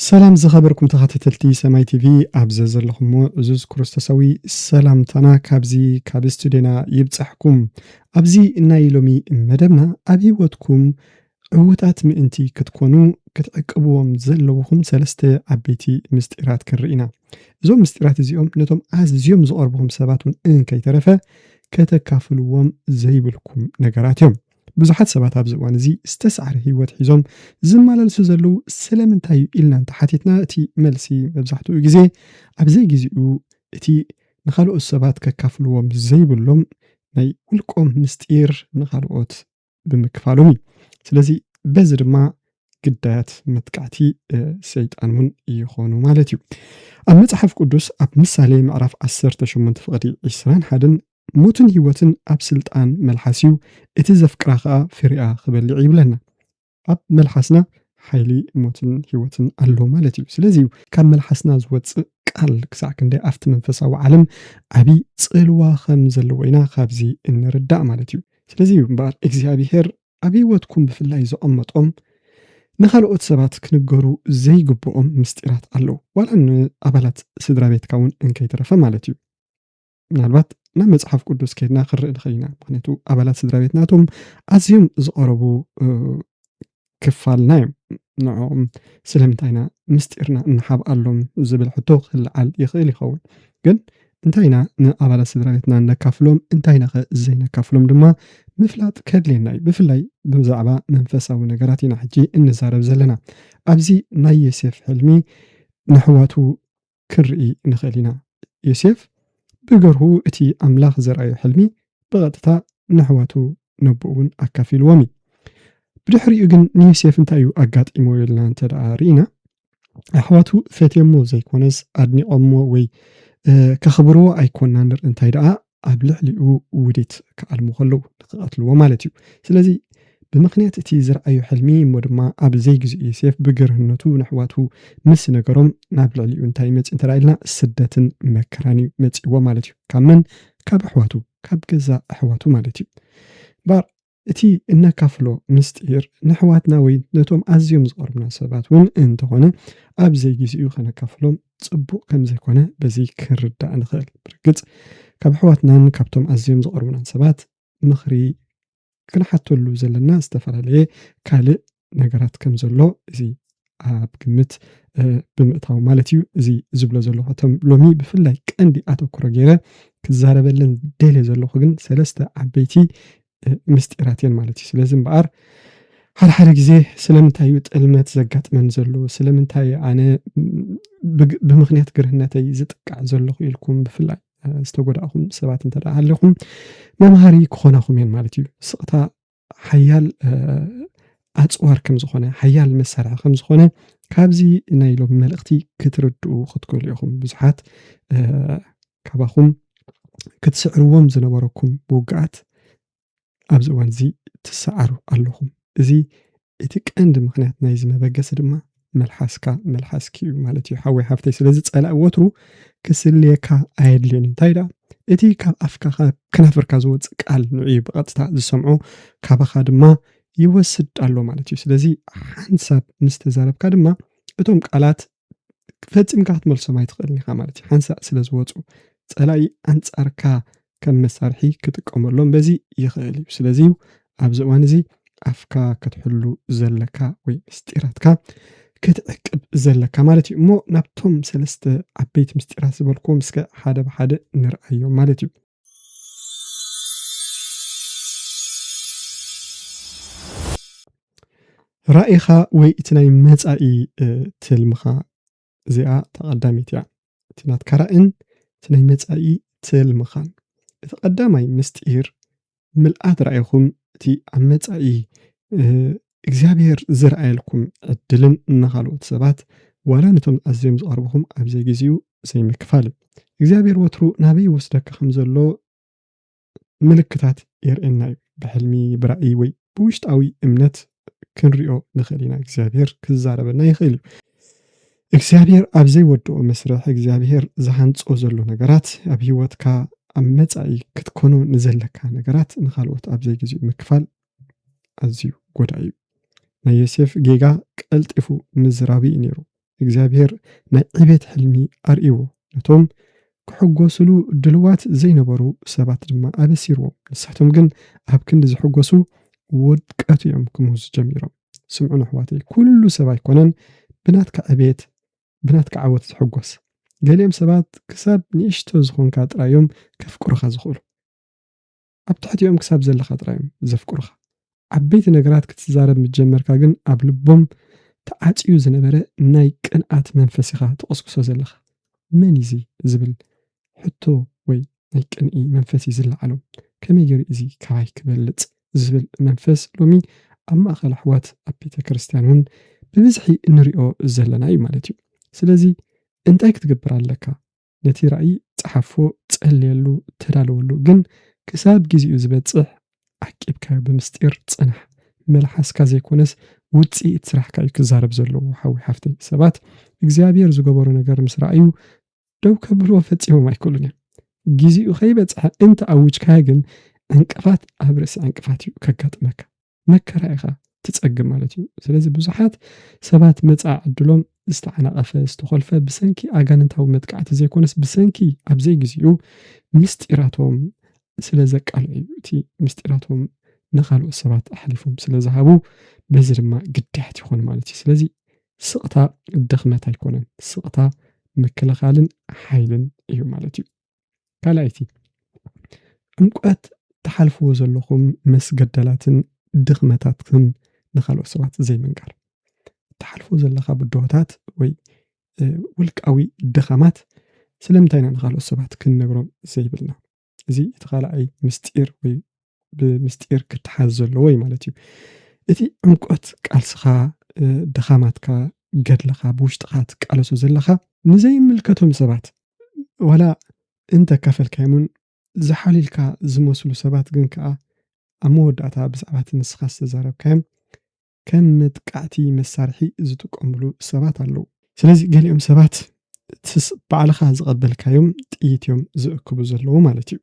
ሰላም ዝኸበርኩም ተኸታተልቲ ሰማይ ቲቪ ኣብ ዘለኹሞ እዙዝ ክርስቶሳዊ ሰላምታና ካብዚ ካብ ስቱድዮና ይብፃሕኩም ኣብዚ ናይ ሎሚ መደብና ኣብ ሂወትኩም ዕዉታት ምእንቲ ክትኰኑ ክትዕቅብዎም ዘለዉኹም ሰለስተ ዓበይቲ ምስጢራት ክንርኢ ኢና። እዞም ምስጢራት እዚኦም ነቶም ኣዝዮም ዝቐርቡኹም ሰባት እውን እንከይተረፈ ከተካፍልዎም ዘይብልኩም ነገራት እዮም። ብዙሓት ሰባት ኣብዚ እዋን እዚ ዝተሳዕረ ህይወት ሒዞም ዝመላለሱ ዘለዉ ስለምንታይ እዩ ኢልና እንተ ሓቲትና እቲ መልሲ መብዛሕትኡ ግዜ ኣብ ዘይግዜኡ እቲ ንኻልኦት ሰባት ከካፍልዎም ዘይብሎም ናይ ውልቆም ምስጢር ንኻልኦት ብምክፋሎም እዩ ስለዚ በዚ ድማ ግዳያት መጥቃዕቲ ሰይጣን እውን ይኾኑ ማለት እዩ ኣብ መፅሓፍ ቅዱስ ኣብ ምሳሌ ምዕራፍ 18 ፍቕዲ 20 ሓደን ሞትን ህይወትን ኣብ ስልጣን መልሓስ እዩ እቲ ዘፍቅራ ከዓ ፍሪኣ ክበልዕ ይብለና ኣብ መልሓስና ሓይሊ ሞትን ህይወትን ኣሎ ማለት እዩ ስለዚ እዩ ካብ መልሓስና ዝወፅእ ቃል ክሳዕ ክንደይ ኣብቲ መንፈሳዊ ዓለም ዓብይ ፅልዋ ከም ዘለዎ ኢና ካብዚ እንርዳእ ማለት እዩ ስለዚ እዩ እምበኣር እግዚኣብሄር ኣብ ህይወትኩም ብፍላይ ዘቐመጦም ንኻልኦት ሰባት ክንገሩ ዘይግብኦም ምስጢራት ኣለዉ ዋላ ንኣባላት ስድራ ቤትካ እውን እንከይተረፈ ማለት እዩ ምናልባት ናብ መፅሓፍ ቅዱስ ከይድና ክንርኢ ንኽእል ኢና ምክንያቱ ኣባላት ስድራ ቤትናቶም ኣዝዮም ዝቐረቡ ክፋልና'ዮም። ንዕኦም ስለምንታይ ኢና ምስጢርና እንሓብኣሎም ዝብል ሕቶ ክልዓል ይኽእል ይኸውን። ግን እንታይ ኢና ንኣባላት ስድራ ቤትና እነካፍሎም፣ እንታይ ኢናኸ ዘይነካፍሎም ድማ ምፍላጥ ከድልየና'ዩ። ብፍላይ ብዛዕባ መንፈሳዊ ነገራት ኢና ሕጂ እንዛረብ ዘለና። ኣብዚ ናይ ዮሴፍ ሕልሚ ነሕዋቱ ክንርኢ ንኽእል ኢና። ዮሴፍ ብገርሁ እቲ ኣምላኽ ዘርኣዮ ሕልሚ ብቐጥታ ንኣሕዋቱ ነቦኡ እውን ኣካፊልዎም እዩ። ብድሕሪኡ ግን ንዮሴፍ እንታይ እዩ ኣጋጢምዎ ኢልና እንተ ደኣ ርኢና፣ ኣሕዋቱ ፈትዮምዎ ዘይኰነስ ኣድኒቖምዎ ወይ ከኽብርዎ ኣይኰንናን ንርኢ፣ እንታይ ደኣ ኣብ ልዕሊኡ ውዲት ክኣልሙ ከለዉ ንክቐትልዎ ማለት እዩ። ስለዚ ብምኽንያት እቲ ዝረኣዮ ሕልሚ እሞ ድማ ኣብ ዘይግዚኡ ዮሴፍ ብግርህነቱ ንኣሕዋቱ ምስ ነገሮም ናብ ልዕሊኡ እንታይ እዩ መጺኡ እንተ ኢልና ስደትን መከራን እዩ መጺእዎ ማለት እዩ። ካብ መን? ካብ ኣሕዋቱ ካብ ገዛእ ኣሕዋቱ ማለት እዩ። እምበኣር እቲ እነካፍሎ ምስጢር ንኣሕዋትና ወይ ነቶም ኣዝዮም ዝቐርቡና ሰባት እውን እንተኾነ ኣብ ዘይጊዜኡ ከነካፍሎም ጽቡቕ ከም ዘይኮነ በዚ ክንርዳእ ንኽእል። ብርግጽ ካብ ኣሕዋትናን ካብቶም ኣዝዮም ዝቐርቡናን ሰባት ምኽሪ ክንሓተሉ ዘለና ዝተፈላለየ ካልእ ነገራት ከም ዘሎ እዚ ኣብ ግምት ብምእታው ማለት እዩ እዚ ዝብሎ ዘለኹ እቶም ሎሚ ብፍላይ ቀንዲ ኣተኩሮ ገይረ ክዛረበለን ደልየ ዘለኹ ግን ሰለስተ ዓበይቲ ምስጢራት እየን ማለት እዩ ስለዚ እምበኣር ሓድሓደ ግዜ ስለምንታይ እዩ ጥልመት ዘጋጥመን ዘሎ ስለምንታይ ኣነ ብምክንያት ግርህነተይ ዝጥቃዕ ዘለኹ ኢልኩም ብፍላይ ዝተጎዳእኹም ሰባት እንተ ኣለኹም መምሃሪ ክኾናኹም እየን ማለት እዩ ስቕታ ሓያል ኣጽዋር ከም ዝኾነ ሓያል መሳርሒ ከም ዝኾነ ካብዚ ናይ ሎሚ መልእኽቲ ክትርድኡ ክትክእሉ ኢኹም ብዙሓት ካባኹም ክትስዕርዎም ዝነበረኩም ብውግኣት ኣብዚ እዋን እዚ ትሰዓሩ ኣለኹም እዚ እቲ ቀንዲ ምኽንያት ናይዚ መበገሲ ድማ መልሓስካ መልሓስኪ እዩ ማለት እዩ ሓወይ ሓፍተይ ስለዚ ጸላኢ ወትሩ ክስልየካ ኣየድልዮን እዩ እንታይ ደኣ እቲ ካብ ኣፍካ ካብ ከናፍርካ ዝወፅእ ቃል ንዕዩ ብቐጥታ ዝሰምዖ ካባኻ ድማ ይወስድ ኣሎ ማለት እዩ ስለዚ ሓንሳብ ምስ ተዛረብካ ድማ እቶም ቃላት ፈጺምካ ክትመልሶም ኣይትኽእልን ኢኻ ማለት እዩ ሓንሳእ ስለ ዝወፁ ፀላኢ ኣንጻርካ ከም መሳርሒ ክጥቀመሎም በዚ ይኽእል እዩ ስለዚ እዩ ኣብዚ እዋን እዚ ኣፍካ ክትሕሉ ዘለካ ወይ ምስጢራትካ ክትዕቅብ ዘለካ ማለት እዩ እሞ ናብቶም ሰለስተ ዓበይቲ ምስጢራት ዝበልኩዎም እስከ ሓደ ብሓደ ንርኣዮም ማለት እዩ ራኢኻ ወይ እቲ ናይ መፃኢ ትልምኻ እዚኣ ተቐዳሚት እያ እቲ ናትካ ራእን እቲ ናይ መፃኢ ትልምኻን እቲ ቀዳማይ ምስጢር ምልኣት ራእይኹም እቲ ኣብ መፃኢ እግዚኣብሔር ዝርኣየልኩም ዕድልን ንኻልኦት ሰባት ዋላ ነቶም ኣዝዮም ዝቐርብኹም ኣብ ዘይግዚኡ ዘይምክፋል። እግዚኣብሔር ወትሩ ናበይ ይወስደካ ከም ዘሎ ምልክታት የርእየና እዩ። ብሕልሚ፣ ብራእይ ወይ ብውሽጣዊ እምነት ክንሪኦ ንኽእል ኢና። እግዚኣብሔር ክዛረበና ይኽእል እዩ። እግዚኣብሔር ኣብ ዘይወድኦ መስርሕ እግዚኣብሔር ዝሃንጾ ዘሎ ነገራት ኣብ ህይወትካ ኣብ መጻኢ ክትኮኖ ንዘለካ ነገራት ንኻልኦት ኣብ ዘይግዚኡ ምክፋል ኣዝዩ ጎዳኢ እዩ። ናይ ዮሴፍ ጌጋ ቀልጢፉ ምዝራቡ እዩ ነይሩ። እግዚኣብሄር ናይ ዕቤት ሕልሚ ኣርእይዎ፣ ነቶም ክሕጎሱሉ ድልዋት ዘይነበሩ ሰባት ድማ ኣበሲርዎም። ንሳቶም ግን ኣብ ክንዲ ዝሕጎሱ ውድቀት እዮም ክምህዙ ጀሚሮም። ስምዑን ኣሕዋተይ፣ ኩሉ ሰብ ኣይኮነን ብናትካ ዕቤት ብናትካ ዓወት ዝሕጎስ። ገሊኦም ሰባት ክሳብ ንእሽቶ ዝኾንካ ጥራይ እዮም ከፍቅሩኻ ዝኽእሉ። ኣብ ትሕቲኦም ክሳብ ዘለኻ ጥራይ'ዮም ዘፍቅሩኻ። ዓበይቲ ነገራት ክትዛረብ ምስ ጀመርካ ግን ኣብ ልቦም ተዓጽዩ ዝነበረ ናይ ቅንኣት መንፈስ ኢኻ ትቕስቅሶ ዘለኻ። መን'ዩ'ዚ? ዝብል ሕቶ ወይ ናይ ቅንኢ መንፈስ'ዩ ዝለዓሎም። ከመይ ገይሩ እዩ'ዚ ካባይ ክበልጽ? ዝብል መንፈስ ሎሚ ኣብ ማእከል ኣሕዋት ኣብ ቤተክርስትያን'ውን ብብዝሒ እንሪኦ ዘለና'ዩ ማለት'ዩ። ስለዚ እንታይ ክትገብር ኣለካ? ነቲ ራእይ ጸሓፎ፣ ጸልየሉ፣ ተዳለወሉ፣ ግን ክሳብ ግዜኡ ዝበጽሕ ዓቂብካዮ ብምስጢር ጽናሕ፣ መልሓስካ ዘይኮነስ ውጽኢት ስራሕካ እዩ ክዛረብ ዘለዎ ሓወይ ሓፍተይ፣ ሰባት እግዚኣብሄር ዝገበሮ ነገር ምስ ረኣዩ ደው ከብልዎ ፈጺሞም ኣይክእሉን እዮም፣ ግዜኡ ከይበጽሐ እንተ ኣውጅካዮ ግን ዕንቅፋት ኣብ ርእሲ ዕንቅፋት እዩ ከጋጥመካ። መከራ ኢኻ ትጸግም ማለት እዩ ስለዚ ብዙሓት ሰባት መጻ ዕድሎም ዝተዓናቐፈ ዝተኾልፈ ብሰንኪ ኣጋንንታዊ መጥቃዕቲ ዘይኮነስ ብሰንኪ ኣብ ዘይግዜኡ ምስጢራቶም ስለ ዘቃልዑ እዩ እቲ ምስጢራቶም ንካልኦት ሰባት ኣሕሊፎም ስለ ዝሃቡ በዚ ድማ ግዳያት ይኾኑ ማለት እዩ ስለዚ ስቕታ ድኽመት ኣይኮነን ስቕታ ምክልኻልን ሓይልን እዩ ማለት እዩ ካልኣይቲ ዕምቆት ትሓልፍዎ ዘለኹም መስገደላትን ድኽመታትክን ንካልኦት ሰባት ዘይምንጋር ትሓልፎ ዘለካ ብድሆታት ወይ ውልቃዊ ድኻማት ስለምንታይ ኢና ንካልኦት ሰባት ክንነግሮም ዘይብልና እዚ እቲ ካልኣይ ምስጢር ወይ ብምስጢር ክተሓዝ ዘለዎ እዩ ማለት እዩ እቲ ዕምቆት ቃልስኻ ድኻማትካ ገድልኻ ብውሽጥኻ ትቃለሶ ዘለኻ ንዘይምልከቶም ሰባት ዋላ እንተካፈልካዮምን ዝሓልልካ ዝመስሉ ሰባት ግን ከዓ ኣብ መወዳእታ ብዛዕባ እቲ ንስኻ ዝተዛረብካዮም ከም መጥቃዕቲ መሳርሒ ዝጥቀምሉ ሰባት ኣለዉ። ስለዚ ገሊኦም ሰባት እቲስ ባዕልኻ ዝቐበልካዮም ጥይት እዮም ዝእክቡ ዘለዉ ማለት እዩ።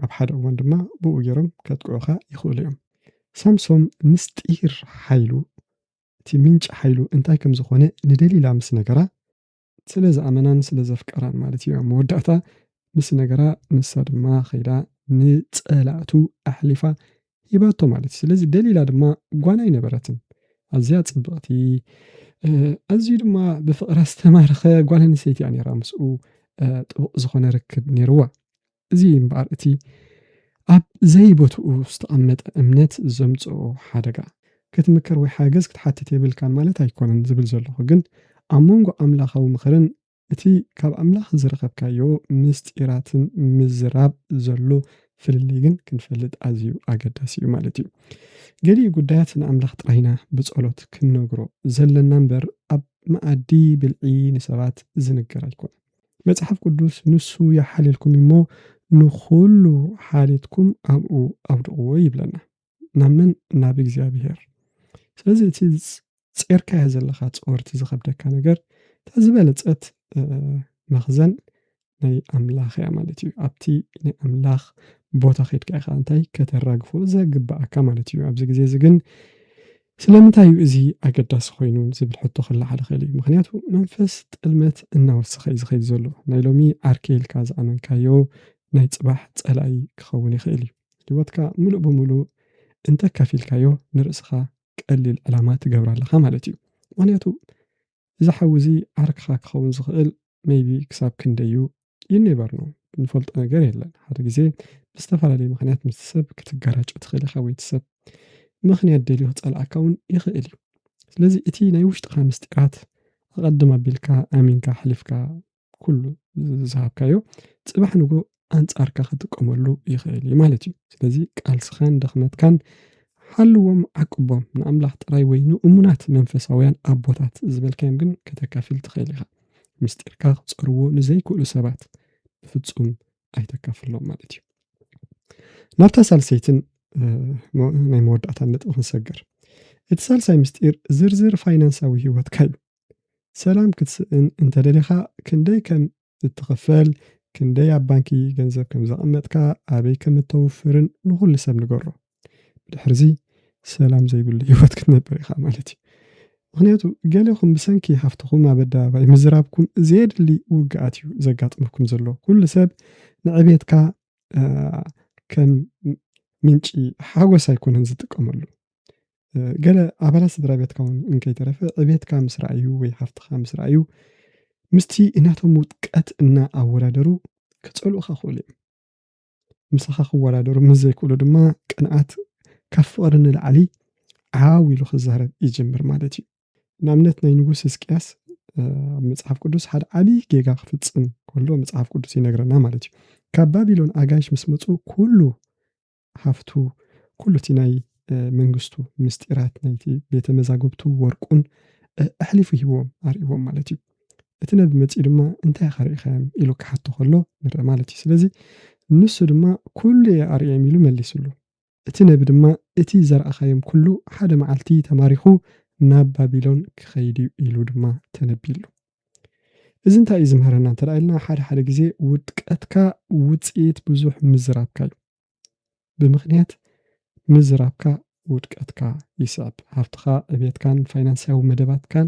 ኣብ ሓደ እዋን ድማ ብኡ ገይሮም ከጥቅዑኻ ይኽእሉ እዮም። ሳምሶም ምስጢር ሓይሉ፣ እቲ ምንጪ ሓይሉ እንታይ ከም ዝዀነ ንደሊላ ምስ ነገራ፣ ስለ ዝኣመናን ስለ ዘፍቀራን ማለት ኢዩ ኣብ መወዳእታ ምስ ነገራ ንሳ ድማ ከይዳ ንጸላእቱ ኣሕሊፋ ሂባቶ ማለት ኢዩ ስለዚ ደሊላ ድማ ጓና ኣይነበረትን ኣዝያ ጽብቕቲ ኣዝዩ ድማ ብፍቕራ ዝተማረኸ ጓል ኣንስተይቲ እያ ነይራ ምስኡ ጥቡቕ ዝኾነ ርክብ ነይርዋ እዚ እዩ እምበኣር እቲ ኣብ ዘይቦትኡ ዝተቐመጠ እምነት ዘምጽኦ ሓደጋ። ክትምከር ወይ ሓገዝ ክትሓትት የብልካን ማለት ኣይኮነን ዝብል ዘለኹ፣ ግን ኣብ መንጎ ኣምላኻዊ ምኽርን እቲ ካብ ኣምላኽ ዝረኸብካዮ ምስጢራትን ምዝራብ ዘሎ ፍልልይ ግን ክንፈልጥ ኣዝዩ ኣገዳሲ እዩ ማለት እዩ። ገሊኡ ጉዳያት ንኣምላኽ ጥራይ ኢና ብጸሎት ክንነግሮ ዘለና እምበር ኣብ መኣዲ ብልዒ ንሰባት ዝንገር ኣይኮነን። መጽሓፍ ቅዱስ ንሱ ይሓልየልኩም እዩ እሞ ንኹሉ ሓልየትኩም ኣብኡ ኣብድቕዎ ይብለና። ናብ መን? ናብ እግዚኣብሄር። ስለዚ እቲ ጼርካዮ ዘለኻ ጾር እቲ ዝኸብደካ ነገር እታ ዝበለጸት መኽዘን ናይ ኣምላኽ እያ ማለት እዩ። ኣብቲ ናይ ኣምላኽ ቦታ ኼድካ ኢኻ እንታይ ከተራግፎ ዘግብኣካ ማለት እዩ። ኣብዚ ግዜ እዚ ግን ስለምንታይ እዩ እዚ ኣገዳሲ ኮይኑ ዝብል ሕቶ ክለዓል ይኽእል እዩ። ምኽንያቱ መንፈስ ጥልመት እናወሰኸ እዩ ዝኸይድ ዘሎ። ናይ ሎሚ ዓርከይ ኢልካ ዝኣመንካዮ ናይ ጽባሕ ጸላኢ ክኸውን ይኽእል እዩ። ህይወትካ ምሉእ ብምሉእ እንተካፊልካዮ ንርእስኻ ቀሊል ዕላማ ትገብራ ኣለኻ ማለት እዩ። ምኽንያቱ እዚ ሓዊ እዚ ዓርክኻ ክኸውን ዝኽእል maybe ክሳብ ክንደይ እዩ you never know ንፈልጦ ነገር የለን ሓደ ግዜ ብዝተፈላለየ ምኽንያት ምስቲ ሰብ ክትጋራጮ ትኽእል ኢኻ ወይ እቲ ሰብ ምኽንያት ደልዩ ክጸልኣካ እውን ይኽእል እዩ ስለዚ እቲ ናይ ውሽጥኻ ምስጢራት ኣቐድም ኣቢልካ ኣሚንካ ኣሕሊፍካ ኩሉ ዝሃብካዮ ጽባሕ ንግሆ ኣንጻርካ ክጥቀመሉ ይኽእል እዩ ማለት እዩ። ስለዚ ቃልስኻን ድኽመትካን ሓልዎም ዓቅቦም ንኣምላኽ ጥራይ ወይ ንእሙናት መንፈሳውያን ኣቦታት ዝበልካዮም ግን ከተካፊል ትኽእል ኢኻ። ምስጢርካ ክጸርዎ ንዘይክእሉ ሰባት ብፍጹም ኣይተካፍሎም ማለት እዩ። ናብታ ሳልሰይትን ናይ መወዳእታ ነጥቢ ክንሰግር እቲ ሳልሳይ ምስጢር ዝርዝር ፋይናንሳዊ ህይወትካ እዩ። ሰላም ክትስእን እንተደሊኻ ክንደይ ከም እትኽፈል፣ ክንደይ ኣብ ባንኪ ገንዘብ ከም ዘቐመጥካ፣ ኣበይ ከም እተውፍርን ንኹሉ ሰብ ንገሮ። ብድሕርዚ ሰላም ዘይብሉ ህይወት ክትነብር ኢኻ ማለት እዩ። ምኽንያቱ ገሌኹም ብሰንኪ ሃፍትኹም ኣብ ኣደባባይ ምዝራብኩም ዘየድሊ ውግኣት እዩ ዘጋጥመኩም ዘሎ። ኩሉ ሰብ ንዕቤትካ ከም ምንጪ ሓጎስ ኣይኮነን ዝጥቀመሉ። ገለ ኣባላት ስድራ ቤትካ እውን እንከይተረፈ ዕቤትካ ምስ ረኣዩ ወይ ሃፍትኻ ምስ ረኣዩ ምስቲ እናቶም ውድቀት እናኣወዳደሩ ክጸልኡኻ ክኽእሉ እዮም ምሳኻ ክወዳደሩ ምስ ዘይክእሉ ድማ ቅንኣት ካብ ፍቕሪ ንላዕሊ ዓው ኢሉ ክዛረብ ይጅምር ማለት እዩ ንኣብነት ናይ ንጉስ ህዝቅያስ ኣብ መጽሓፍ ቅዱስ ሓደ ዓብዪ ጌጋ ክፍጽም ከሎ መጽሓፍ ቅዱስ ይነግረና ማለት እዩ ካብ ባቢሎን ኣጋይሽ ምስ መፁ ኩሉ ሃፍቱ፣ ኩሉ እቲ ናይ መንግስቱ ምስጢራት፣ ናይቲ ቤተ መዛግብቱ ወርቁን ኣሕሊፉ ሂብዎም፣ ኣርእይዎም ማለት እዩ። እቲ ነቢ መጺኡ ድማ እንታይ ኢኻ ርኢኻዮም? ኢሉ ክሓቶ ከሎ ንርኢ ማለት እዩ። ስለዚ ንሱ ድማ ኩሉ እየ ኣርእዮም ኢሉ መሊስሉ። እቲ ነቢ ድማ እቲ ዘርኣኻዮም ኩሉ ሓደ መዓልቲ ተማሪኹ ናብ ባቢሎን ክኸይድ እዩ ኢሉ ድማ ተነቢዩሉ። እዚ እንታይ እዩ ዝምህረና እንተ ኢልና ሓደ ሓደ ግዜ ውድቀትካ ውፅኢት ብዙሕ ምዝራብካ እዩ ብምክንያት ምዝራብካ ውድቀትካ ይስዕብ ሃፍትካ ዕብየትካን ፋይናንሳዊ መደባትካን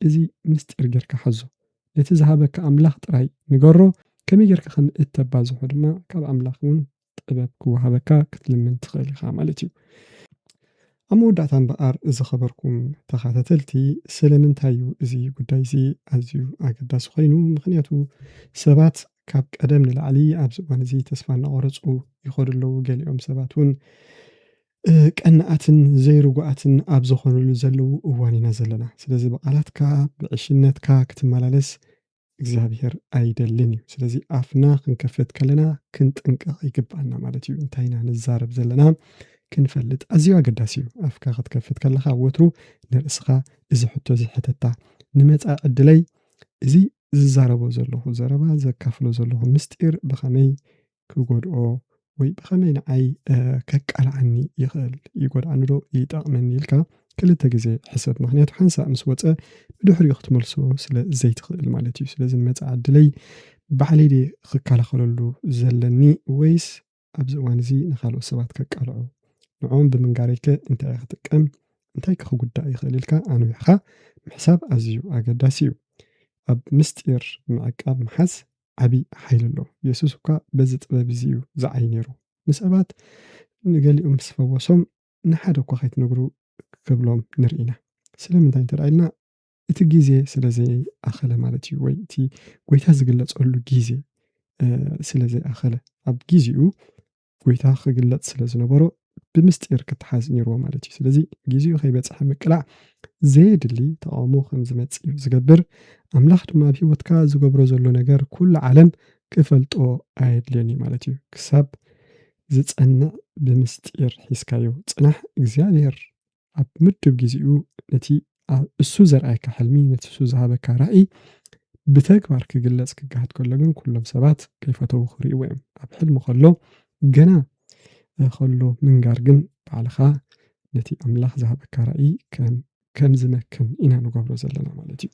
እዚ ምስጢር ጌርካ ሓዞ ነቲ ዝሃበካ ኣምላኽ ጥራይ ንገሮ ከመይ ጌርካ ከም እተባዝሖ ድማ ካብ ኣምላኽ እውን ጥበብ ክወሃበካ ክትልምን ትኽእል ኢኻ ማለት እዩ። ኣብ መወዳእታ እምበኣር ዝኸበርኩም ተኻታተልቲ ስለምንታይ እዩ እዚ ጉዳይ እዚ ኣዝዩ ኣገዳሲ ኮይኑ ምኽንያቱ ሰባት ካብ ቀደም ንላዕሊ ኣብዚ እዋን እዚ ተስፋ እናቖረጹ ይኸዱ ኣለዉ ገሊኦም ሰባት እውን ቀናኣትን ዘይርጉኣትን ኣብ ዝኾኑሉ ዘለዉ እዋን ኢና ዘለና ስለዚ ብቓላትካ ብዕሽነትካ ክትመላለስ እግዚኣብሔር ኣይደልን እዩ ስለዚ ኣፍና ክንከፍት ከለና ክንጥንቀቕ ይግብኣና ማለት እዩ እንታይ ኢና ንዛረብ ዘለና ክንፈልጥ ኣዝዩ ኣገዳሲ እዩ ኣፍካ ክትከፍት ከለኻ ወትሩ ንርእስኻ እዚ ሕቶ እዚ ሕተታ ንመፃኢ ዕድለይ እዚ ዝዛረቦ ዘለኹ ዘረባ ዘካፍሎ ዘለኹ ምስጢር ብኸመይ ክጎድኦ ወይ ብኸመይ ንዓይ ከቃልዓኒ ይኽእል? ይጎድኣኒዶ ይጠቕመኒ? ኢልካ ክልተ ግዜ ሕሰብ። ምክንያቱ ሓንሳእ ምስ ወፀ ብድሕሪኡ ክትመልሶ ስለ ዘይትኽእል ማለት እዩ። ስለዚ ንመፃኢ ዕድለይ ባዕለይ ድየ ክከላኸለሉ ዘለኒ ወይስ ኣብዚ እዋን እዚ ንካልኦት ሰባት ከቃልዖ? ንዕኦም ብምንጋረይ ከ እንታይ እየ ክጥቀም? እንታይ ከ ክጉዳእ ይኽእል? ኢልካ ኣንዊሕኻ ምሕሳብ ኣዝዩ ኣገዳሲ እዩ። ኣብ ምስጢር ምዕቃብ ምሓዝ ዓቢ ሓይሊ ኣሎ። የሱስ እኳ በዚ ጥበብ እዚ እዩ ዚዓዪ ነይሩ። ንሰባት ንገሊኦም ምስ ፈወሶም፣ ንሓደ እኳ ኸይትነግሩ ኪብሎም ንርኢ ኢና። ስለምንታይ እንተ ኢልና፣ እቲ ግዜ ስለ ዘይኣኸለ ማለት እዩ፣ ወይ እቲ ጐይታ ዚግለጸሉ ግዜ ስለ ዘይኣኸለ፣ ኣብ ግዜኡ ጎይታ ክግለጽ ስለ ዝነበሮ ብምስጢር ክተሓዝ ነይርዎ ማለት እዩ። ስለዚ ግዜኡ ከይበጽሐ ምቅላዕ ዘየድሊ ተቓውሞ ከም ዝመጽእ እዩ ዝገብር። ኣምላኽ ድማ ኣብ ህይወትካ ዝገብሮ ዘሎ ነገር ኩሉ ዓለም ክፈልጦ ኣየድልዮን እዩ ማለት እዩ። ክሳብ ዝጸንዕ ብምስጢር ሒዝካዮ ጽናሕ። እግዚኣብሔር ኣብ ምዱብ ግዜኡ ነቲ እሱ ዘርኣየካ ሕልሚ ነቲ እሱ ዝሃበካ ራእይ ብተግባር ክግለጽ ክገሃድ ከሎ ግን ኩሎም ሰባት ከይፈተዉ ክርእይዎ እዮም ኣብ ሕልሚ ከሎ ገና ከሎ ምንጋር ግን ባዕልኻ ነቲ ኣምላኽ ዝሃበካ ራእይ ከም ዝመክን ኢና ንገብሮ ዘለና ማለት እዩ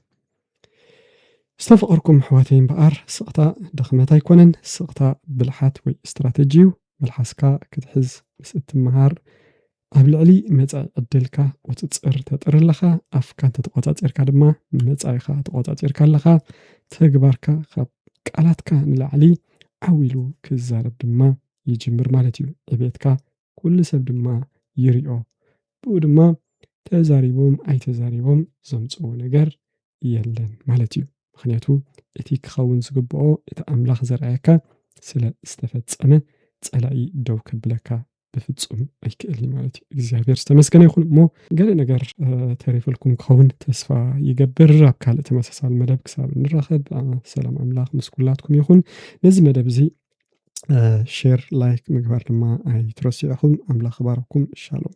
ዝተፈቐርኩም ኣሕዋተይ እምበኣር ስቕታ ድኽመት ኣይኮነን ስቕታ ብልሓት ወይ ስትራተጂ እዩ መልሓስካ ክትሕዝ ምስ እትመሃር ኣብ ልዕሊ መጻኢ ዕድልካ ቁጽጽር ተጥሪ ኣለኻ፣ ኣፍካ እንተተቆጻጺርካ ድማ ንመጻኢኻ ተቆጻጺርካ ኣለኻ፣ ተግባርካ ካብ ቃላትካ ንላዕሊ ዓው ኢሉ ክዛረብ ድማ ይጅምር ማለት እዩ፣ ዕቤትካ ኩሉ ሰብ ድማ ይሪኦ፣ ብኡ ድማ ተዛሪቦም ኣይተዛሪቦም ዘምጽእዎ ነገር የለን ማለት እዩ፣ ምኽንያቱ እቲ ክኸውን ዝግብኦ እቲ ኣምላኽ ዘርኣየካ ስለ ዝተፈጸመ ጸላኢ ደው ከብለካ ብፍጹም ኣይክእል እዩ ማለት እዩ እግዚኣብሔር ዝተመስገነ ይኹን እሞ ገለ ነገር ተሪፈልኩም ክኸውን ተስፋ ይገብር ኣብ ካልእ ተመሳሳሊ መደብ ክሳብ ንራኸብ ሰላም ኣምላኽ ምስ ኩላትኩም ይኹን ነዚ መደብ እዚ ሼር ላይክ ምግባር ድማ ኣይትረስዑኹም ኣምላኽ ባረኩም ሻሎም